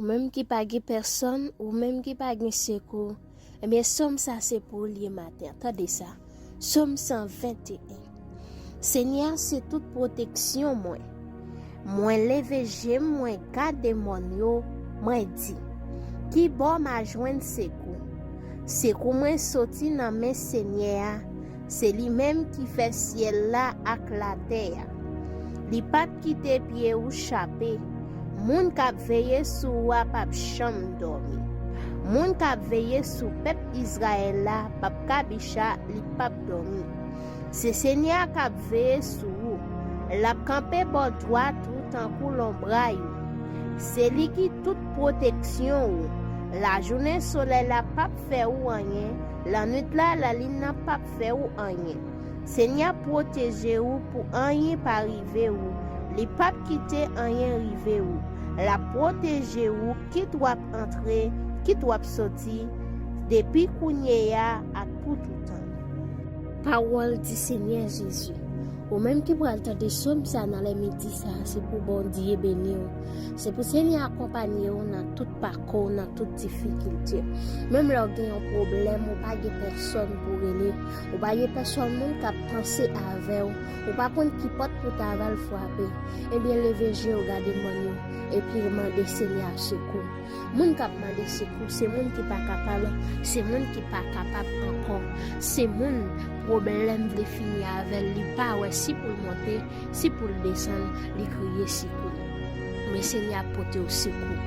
Ou menm ki pa gen pèsòn, ou menm ki pa gen sekou, ebyen sòm sa se pou ou li ye maten an, tande sa, Sòm 121 Senyè a se tout pwoteksyon mwen, mwen leve je m mwen gade mòn yo, mwen di, Ki bò m a jwenn sekou? Sekou mwen soti nan men Senyè a, Se li menm ki fè syèl la ak latè a. Li pap kite pye ou chape. Moun k ap veye sou ou a pap janm dòmi. Moun k ap veye sou pèp Izrayèl la pap kabicha, li pap dòmi. Se Senyè a k ap veye sou ou. L ap kanpe bò dwat ou tankou lonbray ou. Se li ki tout pwoteksyon ou. Lajounen solèy la pap fè ou anyen, Lannwit la, lalin nan pap fè ou anyen. Senyè ap pwoteje ou pou anyen pa rive ou. Li pap kite anyen rive ou. L ap pwoteje ou kit w ap antre, kit w ap soti, depi kounye a ak pou toutan. Pawòl di Senyè Jezi. Ou menm ki pral tande som sa nan lèmidi sa, se pou Bondye beni ou. Se pou Senyè akonpanye ou nan tout pakou. ko w nan tout difikilte. Menm lè w gen yon pwoblèm ou pa gen pèsòn pou rele, ou pa gen pèsòn moun k ap panse avè w, ou pa konn ki pòt pou ta va l fwape, ebyen leve je w gade mòn yo epi mande Senyè a sekou. Moun k ap mande sekou se moun ki pa kapab, se moun ki pa kapab ankò, se moun pwoblèm vle fini avè l, li pa wè si pou l monte, Si poul desann li kriye sekou Men senyè ap potew sekou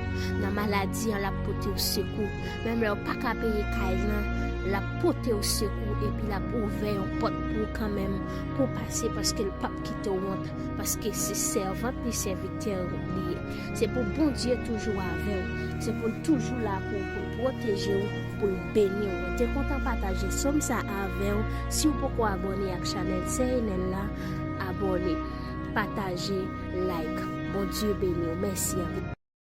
Nan maladi an lap potew sekou Menm lèw paka peye kay lan Lap potew sekou Epi lap ouvè yon pòt pou ou kanmenm Pou pase paskel pap kitew wont Paske se sèvant li sèvitè li ye Se pou Bondye toujou avèw Se poul toujou la pou ou poul pwotejew Poul beniw Mwen te kontan pataje som sa avèw Siw poko abòne ak chanèl sè Enèl la Abone, pataje, like. Bondye beniw. Mèsi anpil.